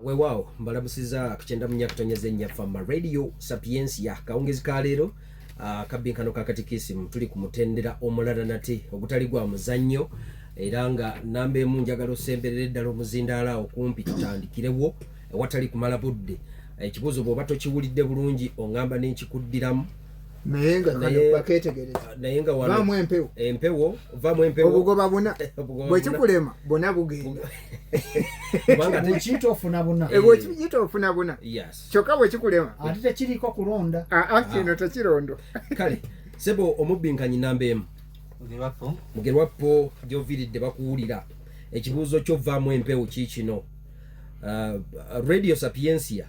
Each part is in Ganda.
Weewaawo mbalamusiza kukyenda munya kutonyeza ennya fama radio sapiensia kawungezi ka leero ah, kabbinkano ka katikisimu tuli ku mutendera omulala nate ogutali gwa muzannyo era nga namba emu njagala osemberere ddala omuzindaala okumpi tutandikirewo ewatali kumala budde ekibuuzo bw'oba tokiwulidde bulungi ongamba nenkikuddiramu naye nga kano baketegereza naye nga wano vamu empewo empewo vamu empewo obugoba buna bwekikulema bona bugenda kubanga tekiyita ofuna buna eh, bwekiyita ofuna buna kyokka bwekikulema ate tekiriko kulonda aa ah, ah, kino ah. tekirondo kale sebo omubinkanyi namba emu mugerwappo gyoviridde bakuwulira ekibuuzo kyo vamu empewo kiikino radio sapiencia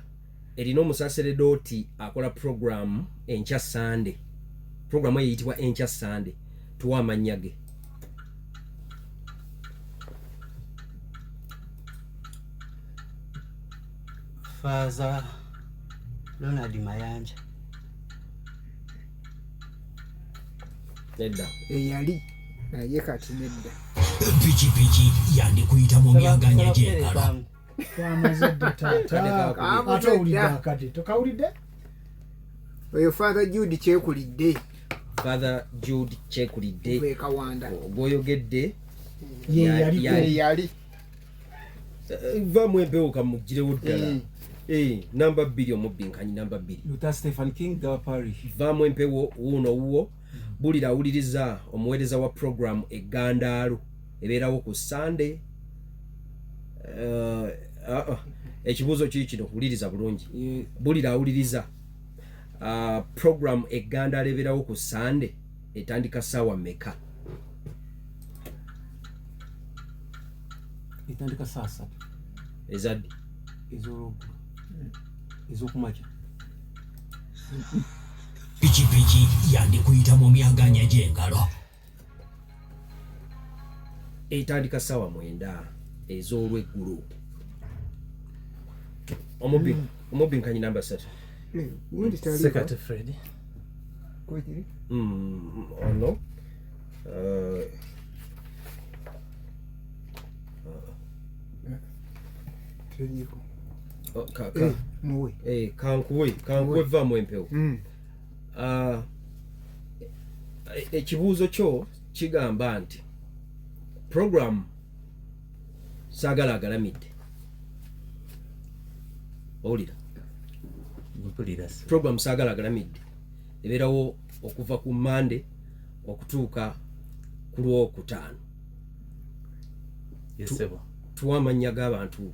erina omusaseredooti akola puroguramu enkya sande puroguramu eyo eyitibwa enkya sande tuwa amannya ge faaza ronald mayanja nedda eyali naye kati nedda pikipiki yandikuyita mu myaganya gy'engalo twamaze dde taataate owulidde akade tokawulidde oyo father jude kyekulidde father jude kyekulidde ekawanda gwoyogedde yeyali eh, va mu empewo kamuggirewo ddala eh. Eh, namba bbiri omubbi nkanyi namba bbiri vaamu empewo wuuno wuwo bulira awuliriza omuweereza wa puroguramu eggandaalo ebeerawo ku sande eh, ah, ah, ekibuuzo kiri kino wuliriza bulungi bulira awuliriza ah, puroguramu eggandaalo ebeerawo ku sande etandika saawa meka etandika saa satu ezaddi ezolwogulu ezokumakya pikipiki yandikuyita mu myaganya gy'engalo etandika ssaawa mwenda ez'olweggulo omubbi hmm. omubbi nkanyi namba satu sekate fred hmm, ono uh, uh, uh. oh, eh, eh, kankuwe kankuwe vaamu empewo mm. ah, e, ekibuuzo kyo kigamba nti programu saagala agalamidde owulira programu saagala agalamidde ebeerawo okuva ku mande okutuuka ku lwokutaano tuwa amannya g'abantu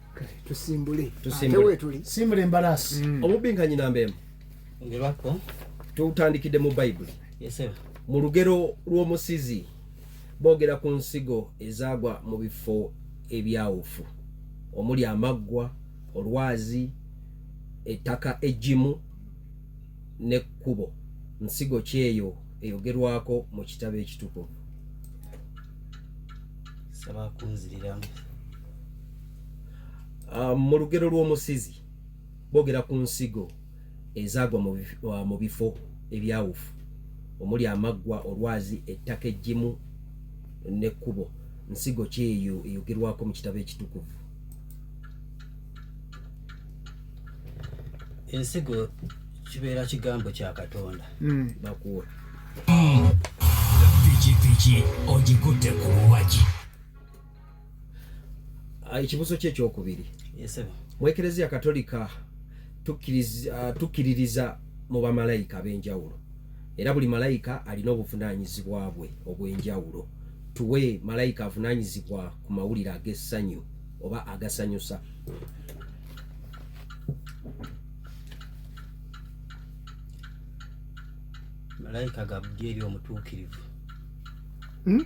tusimbule tusimbule embalaasi mm. obubbi nga nyina mbeemu ngebako tutandikidde mu bayibuli mu lugero lw'omusizi boogera ku nsigo ezaagwa mu bifo ebyawufu omuli amaggwa olwazi ettaka ejjimu n'ekkubo nsigo kyeyo eyogerwako mu kitabo ekitukuvu saba kunziriramu Ah, mu lugero lw'omusizi boogera ku nsigo ezaagwa ah, mu bifo ebyawufu omuli amaggwa olwazi ettaka eggimu n'ekkubo nsigo ki eyo eyogerwako mu kitabo ekitukuvu ensigo kibeera kigambo kya katonda hmm. bakuwa hmm. pikipiki ogikutte ku luwagi ah, ekibuzo kye kyokubiri mu ekereziya katolika ah, tukkiririza mu bamalayika ab'enjawulo era buli malayika alina obuvunaanyizibwa bwe obw'enjawulo tuwe malayika avunaanyizibwa ku mawulire ag'essanyu oba agasanyusa malayika gabudyeri omutuukirivu hmm?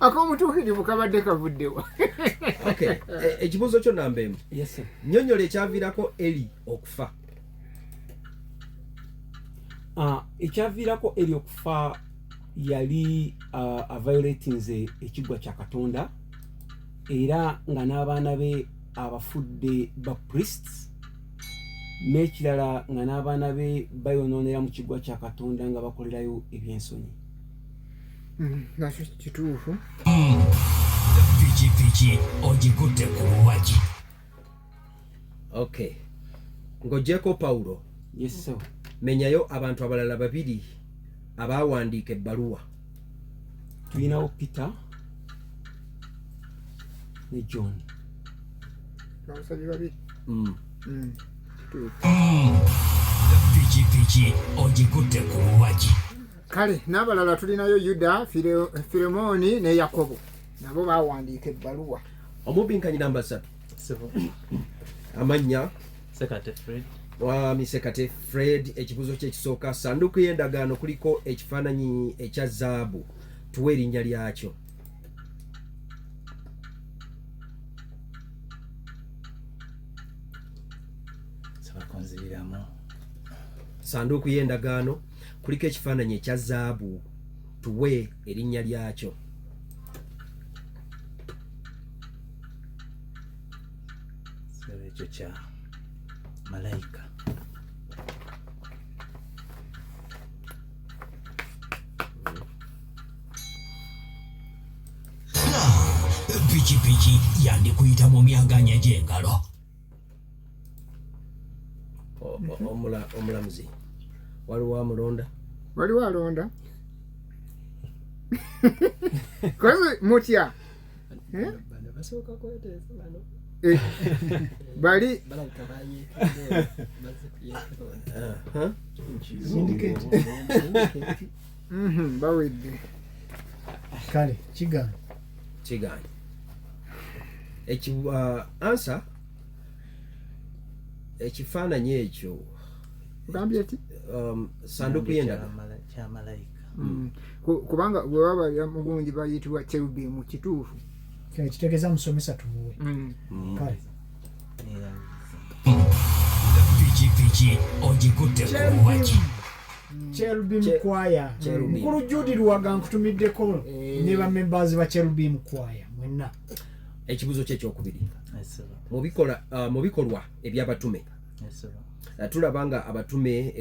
ak'obutuukirivu kabadde kavuddewa e, ekibuuzo kyo namba emu nyonyola ekyaviirako eli okufa ah, ekyaviirako eli okufa yali ah, aviolatinze ekiggwa kya katonda era nga n'abaana be abafudde ba priests n'ekirala nga n'abaana be bayonoonera mu kiggwa kya katonda nga bakolerayo ebyensonyi Mm, nakyo kituufu mm. pikipiki ogikutte ku luwagi okay ng'ogyeko pawulo yeso menyayo abantu abalala babiri abaawandiika ebbaluwa tulinawo peter ne john abasabi babiri mm. mm. pikipiki ogikutte ku luwagi kale n'abalala tulinayo yuda firemooni ne yakobo nabo bawandiika ebbaluwa omubinkanyi namba satu amannya sekate fred mwami sekate fred ekibuzo kyekisooka sanduuku y'endagaano kuliko ekifaananyi ekya zaabu tuwa erinnya lyakyo sanduuku y'endagaano kuliko ekifaananyi ekya zaabu tuwe erinnya lyakyo ekyo kya malayika pikipiki yandikuyita mu myaganya gy'engalo omulamuzi waliwo amulonda waliwo alonda kozi mutya eh? eh, bali mhm, bawedde kale kigambo kigaanyi eki uh, ansa ekifaananyi ekyo ogambye ti um, sanduku yendaga mm. kubanga bwe baba mugungi bayitibwa cherubimu kituufu kitegeeza musomesa tumuwe mm. mm. kale pikipiki ogikutte kuwaki cherubim choir mukulu judi luwaga nkutumiddeko eh. ne bamembazi ba cherubim choir mwenna ekibuzo kye kyokubiri uh, mu bikolwa ebyabatume uh, tulaba nga abatume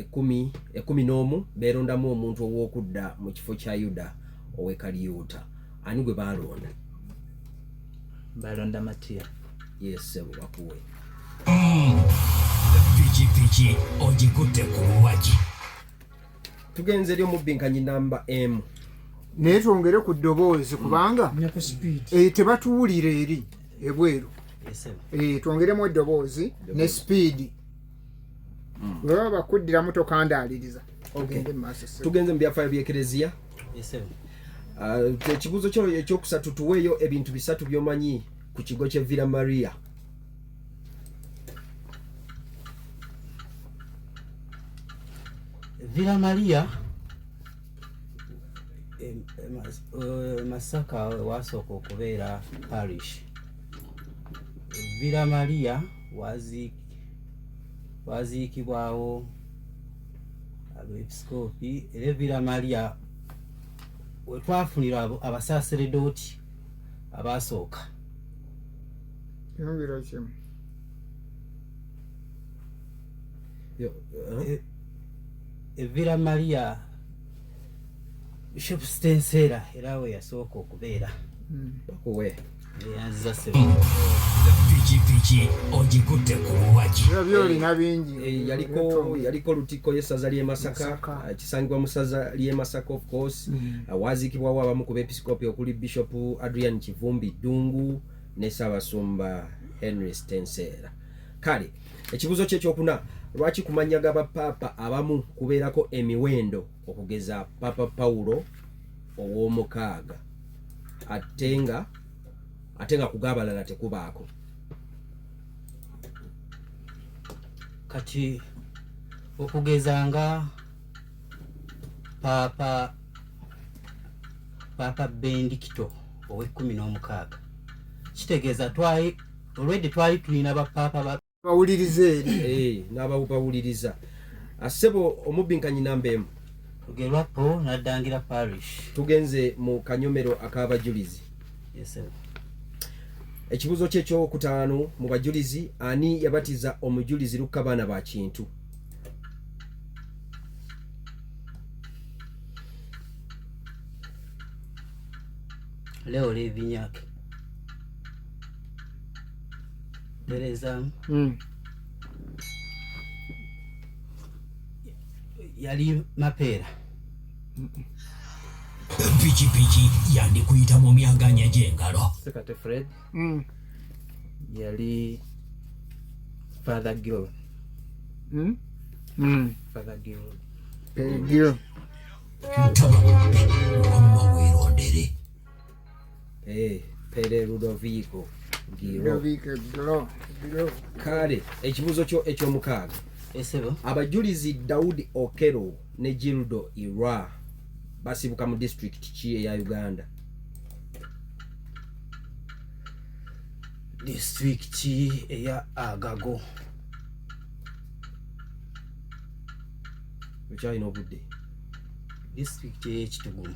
ekumi n'omu beerondamu omuntu ow'okudda mu kifo kya yuda owekaliyuuta ani gwe baalonda balonda matiya yesebo bakuwe pikipiki ogikutte ku luwagi tugenze eri omubbinkanyi namba emu naye twongere ku ddoboozi kubanga eh, tebatuwulira eri ebweru eh, twongeremu eddoboozi ne sipiidi hmm. webaba bakuddiramu tokandaaliriza ogende mu maaso tugenze mu byafaayo byekereziya Ah, ekibuuzo uh, kyo ekyokusatu tuweeyo ebintu bisatu byomanyi ku kigo kye villa maria villa maria eh, eh, masaka wasooka okubeera parish villa maria waziikibwawo abeepisikoopi era evira malya we twafunira abasaaseredooti abaasooka yongera kimu eh, evira maria bishop stenseera era we yasooka okubeera hmm. okuwe pikipiki ogikutte ku luwaki eh, yaliko lutikko y'essaza ly'e masaka eh, kisangibwa mu ssaza ly'e masaka of course mm. eh, waaziikibwawo abamu ku beepisikoopi okuli bishop adrian kivumbi ddungu ne ssaabasumba henry stenseera kale ekibuuzo kye kyokuna lwaki kumanya ga bapaapa abamu kubeerako emiwendo okugeza papa pawulo ow'omukaaga ate nga ate nga kugabalala tekubaako kati okugeza nga paapa paapa bendikito ow'ekkumi n'omukaaga kitegeeza twali olwedde twali tulina bapaapa bawuliriza eri eh, n'abawubawuliriza ah, ssebo omubbinkanyi namba emu tugerwa po naddangira parish tugenze mu kanyomero ak'abajulizi ekibuuzo kye ekyokutaano mu bajulizi ani yabatiza omujulizi lukka baana ba kintu leo levinyake tereezaamu hmm. yali mapeera pikipiki yandikuyita mu myaganya gy'engalo sekate fred hmm. yali father gil hmm? father gil eh, gil ntaba omba weerondere Eh, pere ludovico kale ekibuuzo kyo ekyomukaaga abajulizi daudi okero ne gildo irwa basibuka mu disitulikiti ki eya uganda disitulikiti eya agago okyalina obudde disitulikiti eyekitugulu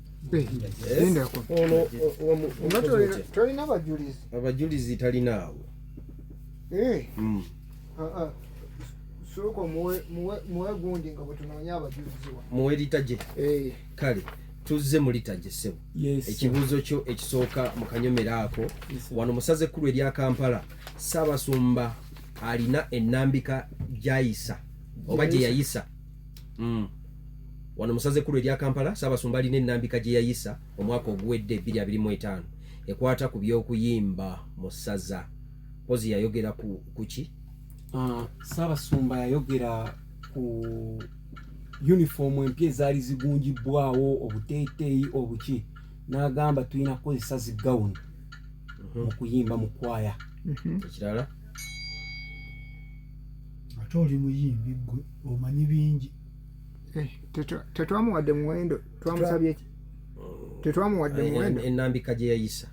tolina abajulizi abajulizi talinaawo eh. hmm. ah, ah. sooka muwe gundi nga bwetunoonya abajulizi wa muwe litaje eh. kale tuzze mu litaje sebo ekibuuzo kyo ekisooka mu kanyomero ako wano musaze ekkulu erya kampala saabasumba alina enambika gyayisa oba gyeyayisa mm. wano musaze kulu erya kampala saabasumba alina enambika gye yayisa omwaka oguwedde 225 ekwata ku by'okuyimba mu ssaza mpozi yayogera ku ki ah, saabasumba yayogera ku yunifoomu empya ezaali zigunjibbwawo obuteeteeyi obuki n'agamba tulina kukozesa zi gawuni mhm. mu kuyimba mu kwaya mhm. ekirala ate oli muyimbi gwe omanyi bingi eh, tetwamuwadde muwendo twamusabye ki oh. tetwamuwadde eh, muwendo enambika gye yayisa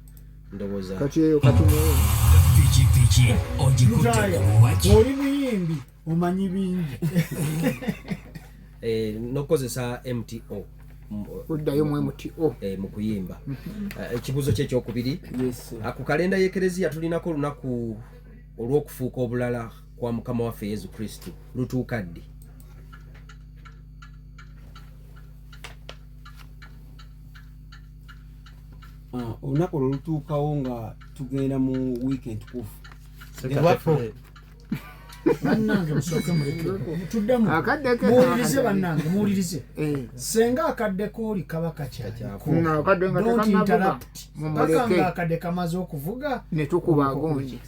ndowooza kati eyo katimuwe pikipiki ogikutte kuwaki oli muyimbi omanyi bingi eh, nokukozesa mto kuddayo mu mto oh. eh, mu kuyimba eh, ekibuuzo kye ekyokubiri ah, ku kalenda y'ekereziya tulinako olunaku olw'okufuuka obulala kwa mukama waffe yesu kristo lutuuka ddi ah, olunaku olwo lutuukawo nga tugenda mu wiiki entukufu bannange musooke muleketuddemu muwulirize bannange muwulirize eh. senga akadde kooli kaba kakyalikakanga akadde kamaze okuvuga netukuba agonje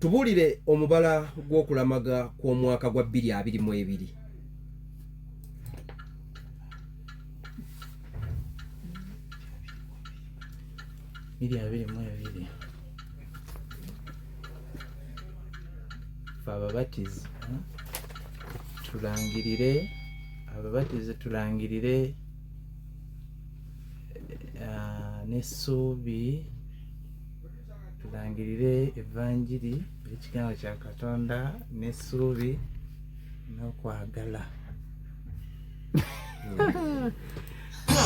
tubuulire omubala gw'okulamaga kw'omwaka gwa bbiri abiri mu ebiri biri abiri mu ebiri fe ababatizi tulangirire ababatizi tulangirire eh, n'essuubi tulangirire evanjiri ekigambo kya katonda n'essuubi n'okwagala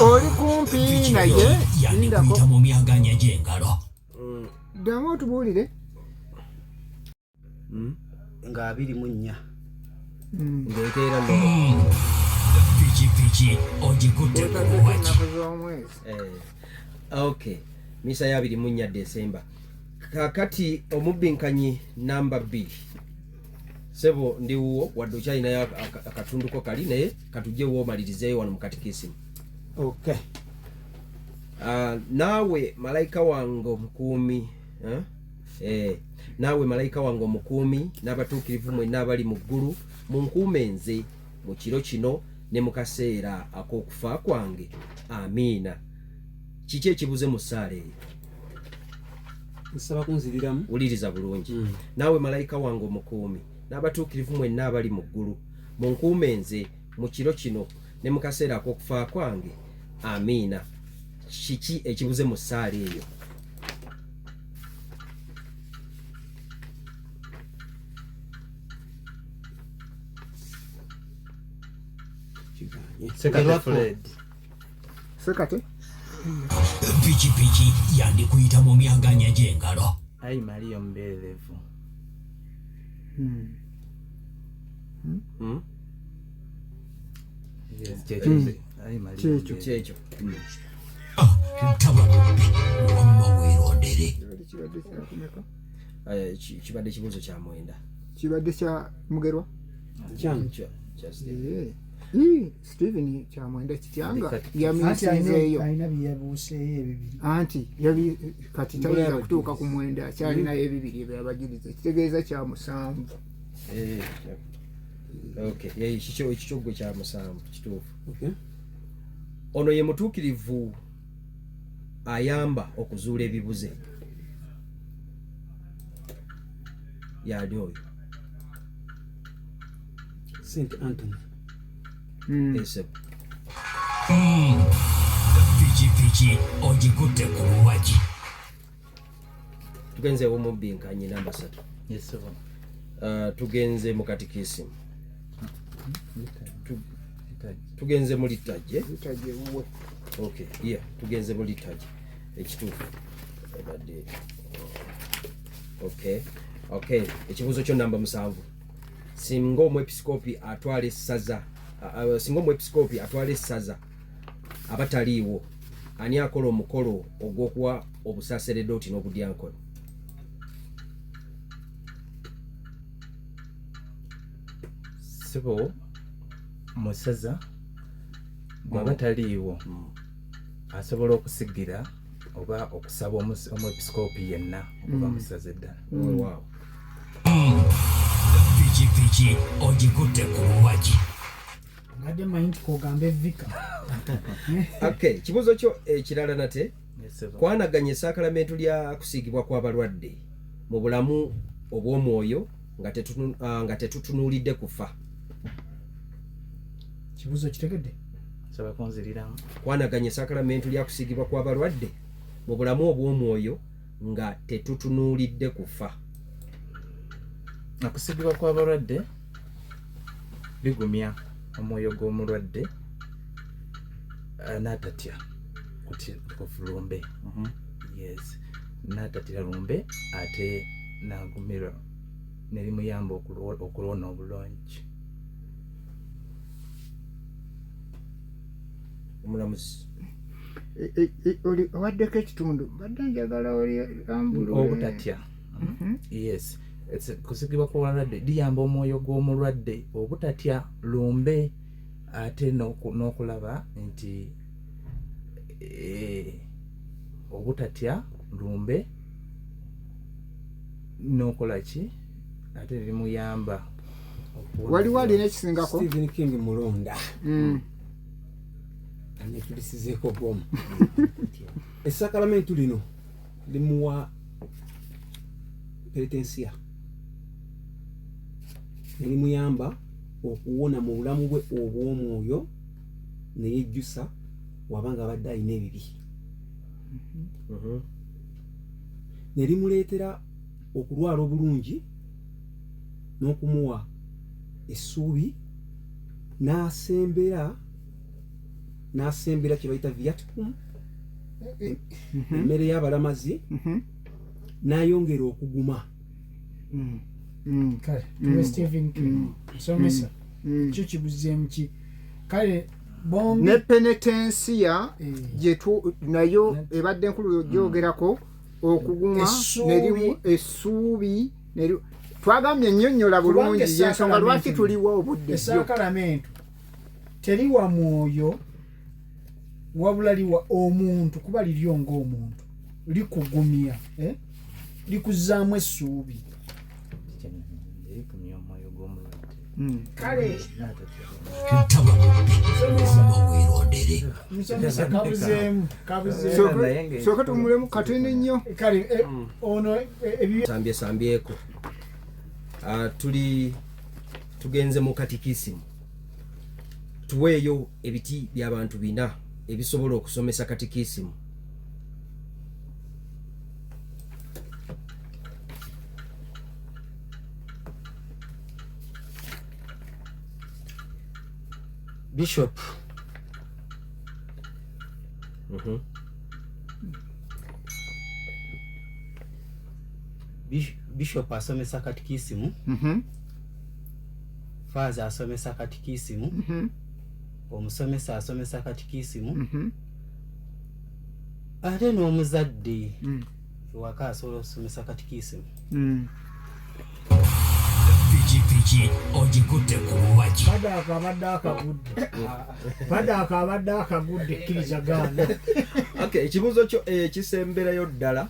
oli kumpi naye yandikuyita mu myaganya gy'engalo ddamu otubuulire hmm? nga abiri mu nnya hmm. ngenkeera pikipiki ogikutte kuwaki eh, ok misa ya abiri mu nnya desemba kakati omubbinkanyi namba bbiri sebo ndi wuwo wadde okyalinayo akatunduko kali naye katujje womalirizeeyo wano mukatikisimu ok ah, naawe malayika wange omukuumi eh? Eh, naawe malayika wange omukuumi n'abatuukirivu mwenna abali mu ggulu munkuume nze mu kiro kino ne mu kaseera ak'okufa kwange amiina kiki ekibuze mu ssaala eyo nsaba kunziriramu wuliriza bulungi mm. naawe malayika wange omukuumi n'abatuukirivu mwenna abali mu ggulu munkuume nze mu kiro kino ne mu kaseera ak'okufa kwange amiina kiki ekibuze mu ssaala eyo sekate pikipiki yandikuyita mu myaganya gy'engalo ayi maliyo mbeerevu hmm. hmm? Hmm? kyekyo kyekyo kibadde kibuuzo kya mwenda kibadde kya mugerwa Steven Kyamwenda Kityanga yamisinzeeyo anti yabi kati tayinza kutuuka ku mwenda akyalinayo ebibiri ebyo abajiriza ekitegeeza kya musanvu eh, ekikyo gwe kya musanvu kituufu ono ye mutuukirivu ayamba okuzuula ebibuze yaani oyo St. Anthony Hmm. Hmm. pikipiki ogikutte ku luwagi tugenze omubbi nkanyi namba satu uh, tugenze mu katikisimu tugenze mu littaje tugenze mu littaje ekituufu ebadde okay okay ekibuuzo kyo namba musanvu singa omwepisikoopi atwala essaza singa omwepisikoopi atwala essaza aba taliiwo ani akola omukolo ogw'okuwa obusaseredooti n'obudyankoni sibo musaza bwaba mm. taliiwo mm. asobola okusigira oba okusaba omwepisikoopi yenna okuba mm. musaza eddala pikipiki ogikutte ku luwagi mbadde manyi nti kogambe vika okay kibuuzo kyo ekirala eh, nate kwanaganya esakalamentu lya kusiigibwa kw'abalwadde mu bulamu obw'omwoyo nga ah, tetutunuulidde kufa kibuuzo kitegedde saba kunziriramu kwanaganya esakalamentu lya kusiigibwa kw'abalwadde mu bulamu obw'omwoyo nga tetutunuulidde kufa okusigibwa kw'abalwadde bigumya omwoyo gw'omulwadde eh, n'atatya kufulumbe mhm. yes n'atatira lumbe ate n'agumirwa ne limuyamba okulwona obulungi omulamuzi e, e, e, owaddeko ekitundu mbadde njagala olambuloobutatya mhm. yes kusigibwa kw'obulwadde liyamba omwoyo gw'omulwadde obutatya lumbe ate n'okulaba nti eh, obutatya lumbe n'okola ki ate bimuyamba waliwo alina ekisingako Stephen King mulonda mm. anetulisizeeko bomu esakalamentu lino limuwa peretensiya nelimuyamba okuwona mu bulamu bwe obw'omwoyo neyejjusa waba nga abadde alina ebibi mm-hmm. ne limuleetera okulwala obulungi n'okumuwa essuubi n'asembera n'asembera kye bayita viatcum mhm. emmere y'abalamazi mhm. n'ayongera okuguma mm. Mm. kale mm. stephen somesa kyo kibuzeemu ki kale ne penetensiya eh. nayo ebadde nkulu gyogerako okuguma essuubi twagambye ennyonnyola bulungi yensonga lwaki tuliwa obudde esakalamentu teriwa mwoyo wabula liwa omuntu kuba liryo ngaomuntu likugumya eh? likuzaamu essuubi kale soka tumulemu katene nnyo kale eh, mm. ono eh, sambyesambyeko ah, tuli tugenze mu katikisimu tuweeyo ebiti byabantu bina ebisobola okusomesa katikisimu Bishop. Mm-hmm. Bishop asomesa katikisimu. Mm-hmm. Faza asomesa katikisimu. Mm-hmm. Omusomesa asomesa katikisimu. Mm-hmm. Ate n'omuzadde. Mm. ewaka asobola okusomesa katikiisimu hmm. pikipiki ogikutte ku luwaki padaaka abadde akagudde padaaka abadde akagudde kkiriza gaana ekibuuzo kyo ekisemberayo eh, ddala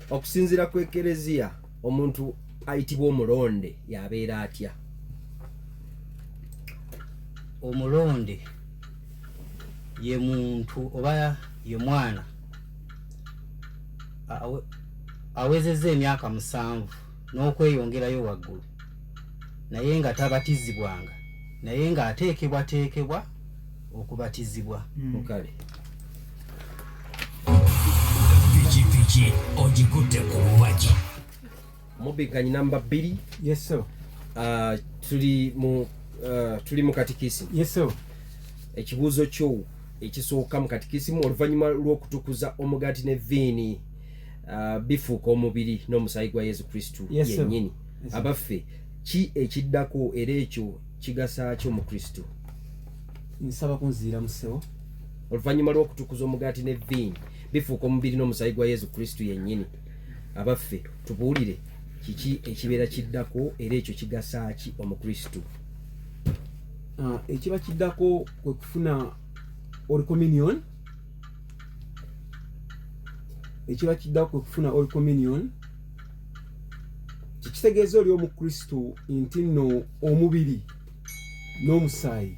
okusinziira ku ekereziya omuntu ayitibwa omulonde yabeera atya omulonde ye muntu oba ye mwana awezezza emyaka musanvu n'okweyongerayo waggulu naye nga tabatizibwanga naye ng'ateekebwateekebwa okubatizibwa mukale mm. ki ogikutte ku luwagi Mubigganyi namba bbiri. Yes sir. Uh, tuli mu uh, tuli mu katikisi. Yes sir. Ekibuuzo kyo ekisooka mu katikisimu oluvannyuma lw'okutukuza omugaati ne viini uh, bifuuka omubiri n'omusaayi gwa Yesu Kristo yennyini. Yes, Abaffe ki ekiddako era ekyo kigasa kyo mu Kristo? Nsaba kunziira mu ssebo. Oluvannyuma lw'okutukuza omugaati ne viini bifuuka omubiri n'omusaayi gwa Yesu Kristo yennyini. abaffe tubuulire kiki ekibeera kiddako era ekyo kigasa ki omukristu ah, ekiba kiddako kwe kufuna olcommunion ekiba kiddako kwe kufuna olcommunion kikitegeeza oli omukristu nti nno omubiri n'omusaayi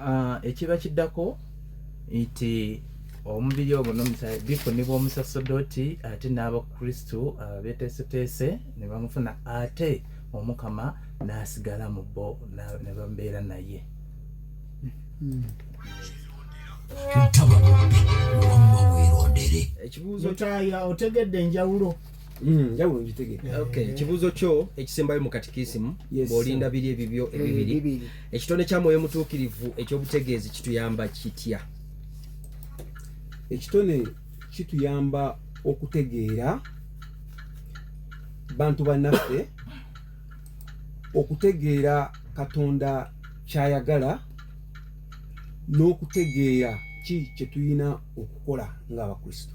ah, ekiba kiddako nti omubiri ogwo nomusaayi bifunibwa omusasodoti ate n'abakristu ah, beteeseteese ne bamufuna ate omukama n'asigala mu bo ne babeera naye hmm. ekibuuzo taya otegedde enjawulo Hmm, njawulo ngitegere eh, okay ekibuuzo kyo ekisembayo mu katikisimu bw'olinda biri ebibyo eh, ebibiri ekitone kya mwoyo mutuukirivu ekyobutegeezi kituyamba kitya ekitone kituyamba okutegeera bantu bannaffe okutegeera katonda kyayagala n'okutegeera ki kyetulina okukola ng'abakristo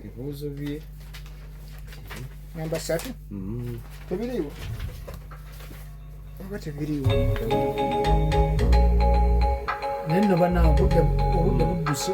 ebibuuzo bye namba satu mm-hmm. tebiriiwo oba tebiriiwo naye nno banange obudde budduse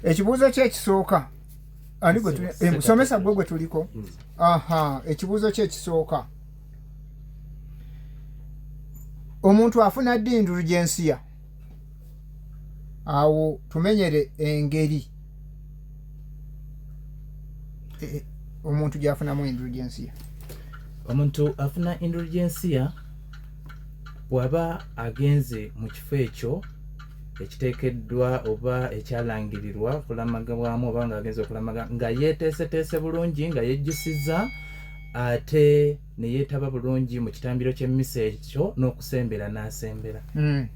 ekibuuzo kye ekisooka ani gwe musomesa gwe gwe tuliko aha ekibuuzo kye ekisooka omuntu afuna ddi endulu gyensiya awo tumenyere engeri e, e, omuntu gyafunamu endulu gyensiya omuntu afuna endulu gyensiya bwaba agenze mu kifo ekyo ekiteekeddwa oba ekyalangirirwa okulamaga bwamu oba nga agenza okulamaga nga yeeteeseteese bulungi nga yejjusiza ate ne yeetaba bulungi mu kitambiro ky'emmisa ekyo n'okusembera n'asembera hmm.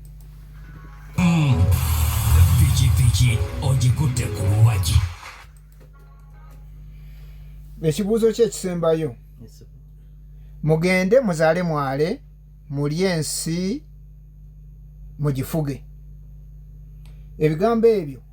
pikipiki ogikutte ku luwagi ekibuuzo kye ekisembayo mugende muzaale mwale mulye ensi mugifuge ebigambo ebyo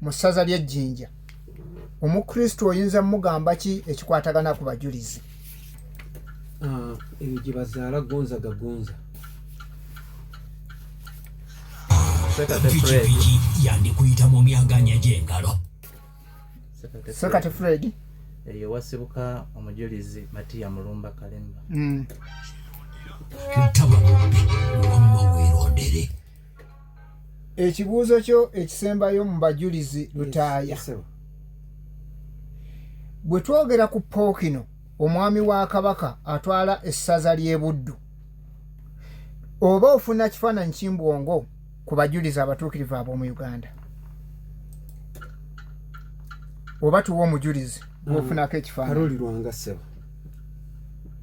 mu ssaza ly'e Jinja. Omukristo oyinza mugamba ki ekikwatagana ku bajulizi? Ah, eyo gye bazaala gonza gagonza. Pikipiki yandikuyita mu myaganya gy'engalo. Sekate Fred. Eyo wasibuka omujulizi Matiya Mulumba Kalemba. Mm. Ntaba bubbi, wamma weerondere. ekibuuzo kyo ekisembayo mu bajulizi lutaaya bwe twogera ku pookino omwami wa kabaka atwala essaza ly'ebuddu oba ofuna kifaananyi kimbwongo ku bajulizi abatuukirivu ab'omu uganda oba tuwa omujulizi gwofunako ekifaananyi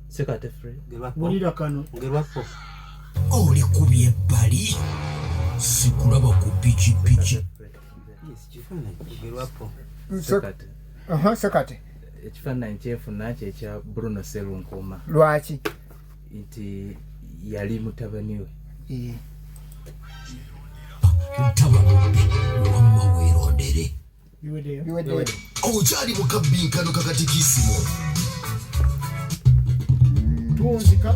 sekate free wulira kano ngerwako oli ku byebbali sikulaba ku pikipiki sekate ekifaananyi kyenfuna kyekya bruno serunkuma lwaki nti yali mutabani we ntabanobi wamma weerondere okyali mu kabbinkano kakatikisimo tunzika